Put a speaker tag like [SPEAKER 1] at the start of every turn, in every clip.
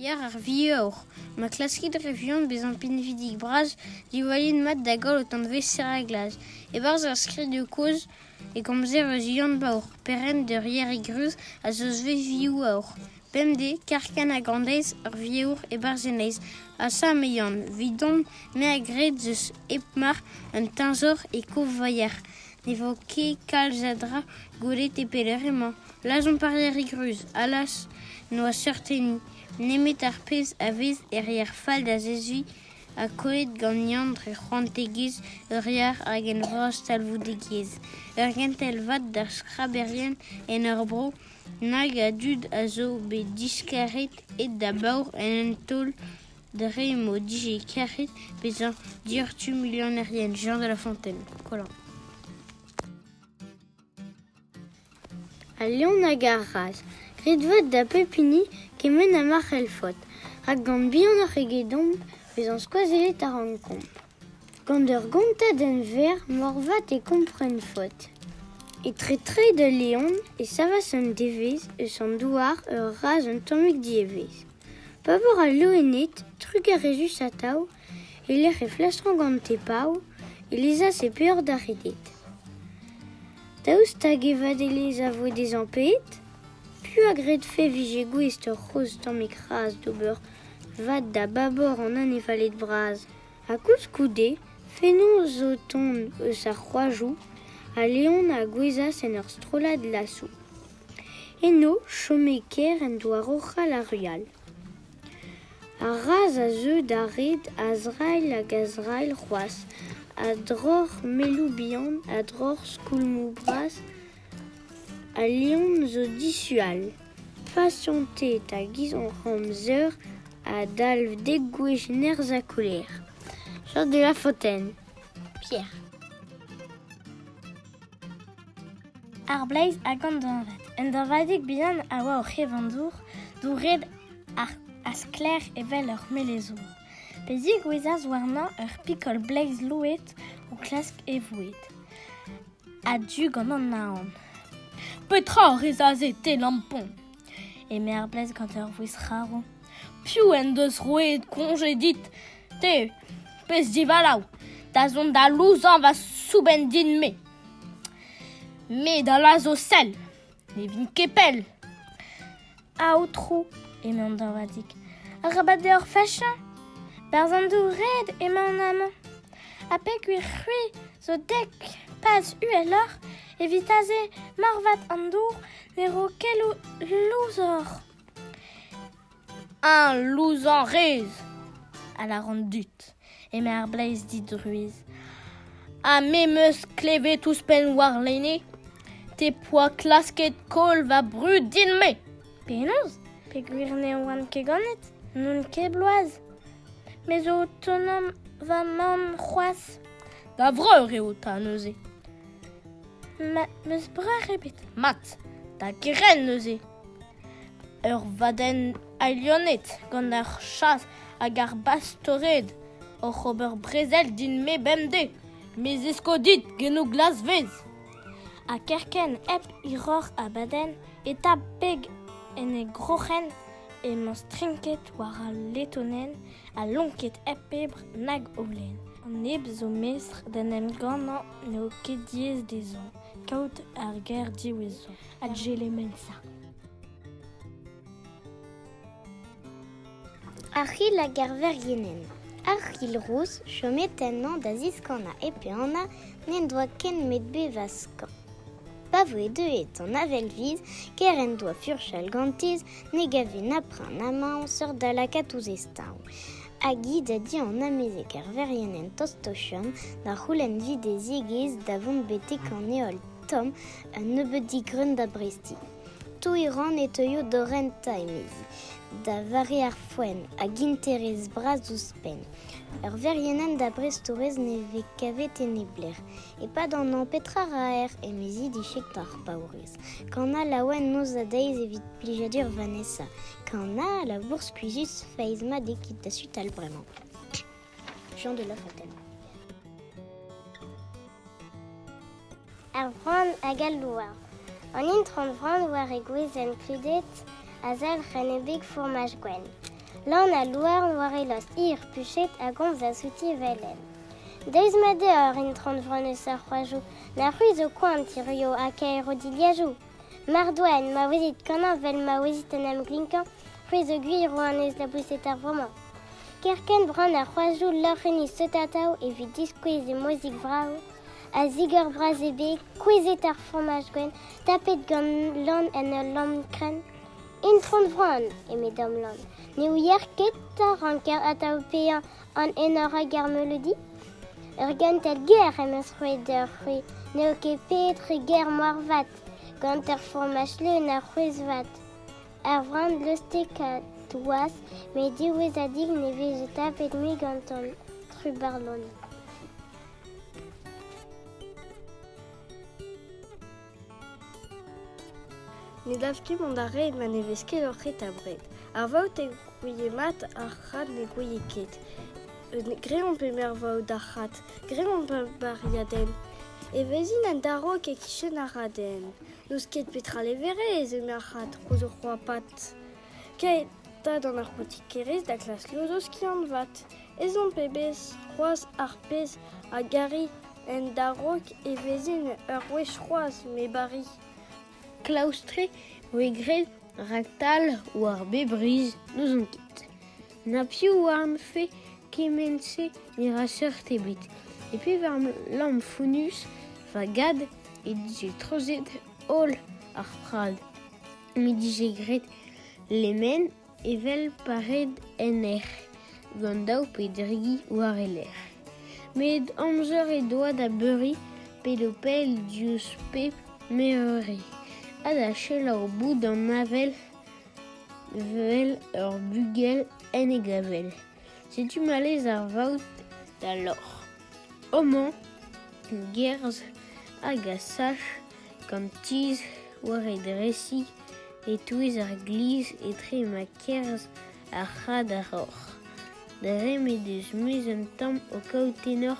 [SPEAKER 1] Yar ar vihaur, ma klaskit re vuan bezañ pinvidik-bras, diwallit mat da goll ho tanvez-se reglaj. E-barzh ar skrid-kozh e komzer eus Yann Baour, perc'henn d'ur Yerig ruz a zo svez vihaur. Bemdez, Karkan ha Grandeiz, ur vihaur e-barzh e neizh. Asa eme Yann, 'Vidon, me a gred 'z eus hep mar un teñzor e Kovaier. Ne vo ket kalz a dra gwelet e pelec'h emañ. Lazhomp ar Yarig Ruz, allas ! n'oa seurt-hini nemet ar pezh a vez er yar fall da zeskiñ ha kollet ganeomp dre c'hoantegezh ur yar hag en vras talvoudegezh. Ur gentel vat d'ar skraberien en hor bro nag a dud a zo bet diskaret aet da baour en un taol Dre m'o dije kerc'het bezañ diortu milionerien Jean de La Fontaine, Kollin. Al leon hag ar raz, graet vat da pep hini kement ha ma c'hellfot, rak gant bihanoc'h egedomp bezañ skoazellet a rankomp. Gant ur gontadenn-verr moarvat e kompren faot. Etre-treid al Leon e savas un devezh eus an douar ur razh un tammig dievezh. Pa vor al loened, trugarezhus atav, e-lec'h e flastrañ gante pav, e lezas e peoc'h da reded. Daoust hag e vadelezh a vo dezhañ pet? Piv a gredfe 'vije gouest ur c'hozh tammig razh d'ober vad da babor an annevaled bras? Ha koulskoude, fenoz zo o tont eus ar c'hoajoù, ha Leon a gouezhas en ur strollad lasoù. Eno chome ker en doa roc'hal ar rual. Ar razh a zeu da red a-zrailh hag a-zrailh c'hoazh, a-droc'h melloù bihan, a-droc'h skoulmoù bras Al liamm zo dishual, fazianted hag izannramzer a dalv degouezh nerzh ha koler. Jeu de La Fontaine, Pierre.
[SPEAKER 2] Ar bleiz hag an dañvad. Un dañvadig bihan a oa o c'hevandour, douret ha sklaer evel ur melezour. Pe zigouezas warnañ ur pikol bleiz louet o klask e voued. A-du gant an naon. Petra a rez aze, te, lampon? eme ar blez gant ur vouezh c'harv. Piv en deus roet koñje dit? Te, pezh divalav, da zont da louzañ va soubenn din-me. Me da lazho sell. Ne vin ket pell. Aotrou, emañ Dorvadig, arabat deoc'h fachañ. Berzh an dour red emañ an amañ. Ha peogwir c'hwi zo dek paz uheloc'h, evit aze marvat an dour ne ro ket louzoc'h. Eñ louzañ rez, a lâran dit, eme ar bleiz didruez, ha me 'm eus klevet ouzhpenn warlene te 'poa klasket koll va brud din-me. Penaos? Peogwir ne oan ket ganet, n'on ket bloaz. Me zo o tonañ va mamm c'hoazh. Da vreur eo 'ta neuze. Ma 'm eus breur ebet mat da grenn neuze. ur vadenn alienet gant ar chas hag ar bastored oc'h ober brezel din-me bemdez me zesko dit genou glasvez ha kerkent hep hiroc'h abadenn e ta beg en e groc'hen emañ strinket war al letonenn ha lonket hep pebr nag holen an neb zo mestr d'en em gannañ n'eo ket diaes dezhañ kaout ar ger diwezhañ adjelemensa.
[SPEAKER 3] Arc'hil hag ar vergienenn Arc'hil rous chomet ennañ da ziskanañ e pe Anna n'en doa ken met bevañ skañ. Pa voe deuet an avel-viz, ker en doa furchal gantiz, ne gave na prin na mañ seurt da lakaat ouzh e staoñ. Hag hi da di an amezeg ar verrienenn Tostochon da c'houlenn vi d'e ziegezh da vont betek an heol. tomm un nebeud digreun da brestiñ. Toui-rann e teuio da rentañ, emezi, da vare ar foenn hag interez bras ouzhpenn. Ur verienenn da brestourez ne vez kavet e neblec'h. E-pad an hañv petra ra aer? emezi dichek d'ar paourez. Kana laouen noz ha deiz evit plijadur Vanessa. Kana, labour skuizhus, feiz mat eo ket da sutal bremañ. Jean de La Fontaine.
[SPEAKER 4] Ar vran hag al louarn An intron vran war e gwezenn kludet a zalc'h en e beg fourmaj gwenn. Lan al louarn war e lost hir puchet a gomz a-zouti velen. Deiz ma deo ar intron vran eus ar c'hoajou na c'hwi zo koan tirio ha kaero dilhajou. Mar doa-en ma ouezit kanañ 'vel ma ouezit en em glinkañ, c'hwi zo gwir eo anez laboused ar vro-mañ. Kerkent bran ar c'hoazoù loc'henn istot atav evit diskouez e mozik vrav, a zigor bras e beg, kouezhet ar fromaj gwenn, tapet gant lann en ul lamm krenn. Intron Vran, eme Dom Lann, ne ouier ket 'ta ranker atav paeañ An enor hag ar meuleudi Ur gentel ger em eus roet deoc'h-c'hwi n'eo ket petra ger moarvat gant ur fourmaj leun a c'hwezh-vat. Ur vran lostekad toaz met diwezhadik ne veze tapet mui gantan. Trubarlon.
[SPEAKER 2] Ne dav ket mont a-hed ma ne vez ket hoc'h eta-bred. Ar vaout ne gouie mat ar c'had ne gouie ket. Graet omp eme ar vaout d'ar c'had. Graet omp ur bariadenn. Evezhin un darok e-kichen ar raden. N'eus ket petra leverez eme ar c'had koz o c'hoapat. Kae 'ta d'an arpotikerez da klask lozo skiant-vat. Ez omp e-bez c'hoazh ar pezh a gari En darok e vezin ur wech c'hoazh me Bari. Klaoustre
[SPEAKER 1] voe graet raktal war bep riz, n'ouzon ket. Na piv oarnfe kement-se ne ra seurt ebet. E pevar lamm fonnus va gad he dije treuzet holl ar prad m'he dije graet lemen evel pa red en hec'h gant daou pe dri gi war e lerc'h. Met amzer he doa da beuriñ pe d'o pell diouzh pep meurvre ha da selaou boud an avel 'vel ur bugel en e gavell. Setu ma lez ar vaout da loc'h. Homañ, gerzh hag a sach gant tizh war e dresiñ e-touez ar glizh etre ma kerzh ar c'had ar roc'h. Dre m'he deus mouezh un tamm o kaout tenor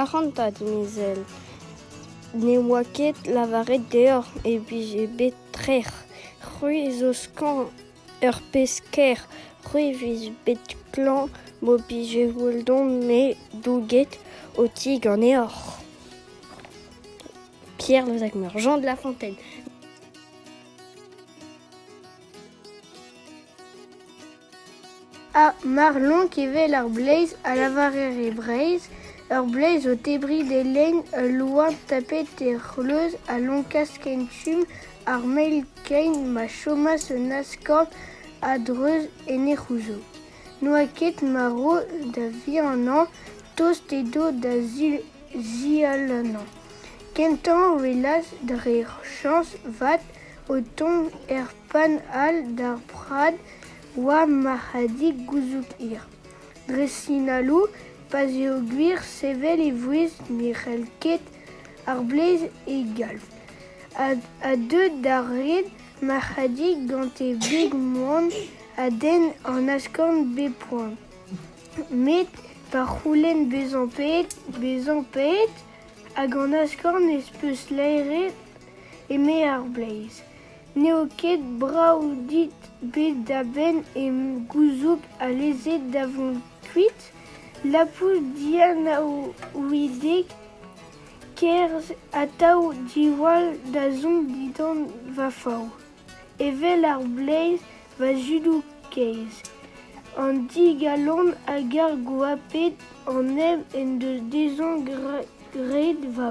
[SPEAKER 1] Ac'hanta,
[SPEAKER 2] dimezell, ne oa ket lavaret deoc'h e vije bet trec'h. C'hwi zo skañv, ur pezh ker. C'hwi vez bet klañv m'ho bije holldan me douget ho ti ganeoc'h. Pierre Vosac-Meur, Jean de La Fontaine.
[SPEAKER 5] Ha mar lonk evel ar bleiz, a lavarer e Breizh, ur bleiz o tebriñ d'e lein ul loen tapet e c'hleuz a lonkas kentum ar mell-kein ma chomas un askorn a-dreuz en he c'houzoug. N'oa ket marv da vihanañ, tost edo da zialanañ. Kentañ o welas, dre chañs 'vat, O tont er pann all d'ar prad oa marc'hadig gouzoug hir. Dre sinaloù, pa 'z eo gwir sevel e vouezh ne c'hell ket ar blez e galv, a deu d'ar red marc'hadig gant e beg moan a denn an askorn bep poan. Met pa c'houlenn bezañ paeet, bezañ paeet hag an askorn ez peus laeret eme ar Bleiz, n'eo ket brav dit bet da benn em gouzoug alese da vont kuit, Lapouz dianaouidek kerzh atav diwall dazont dindan va fav, evel ar Bleiz va zudoù kaezh. An digalon hag ar goaped an nev en deus dezhañ graet va.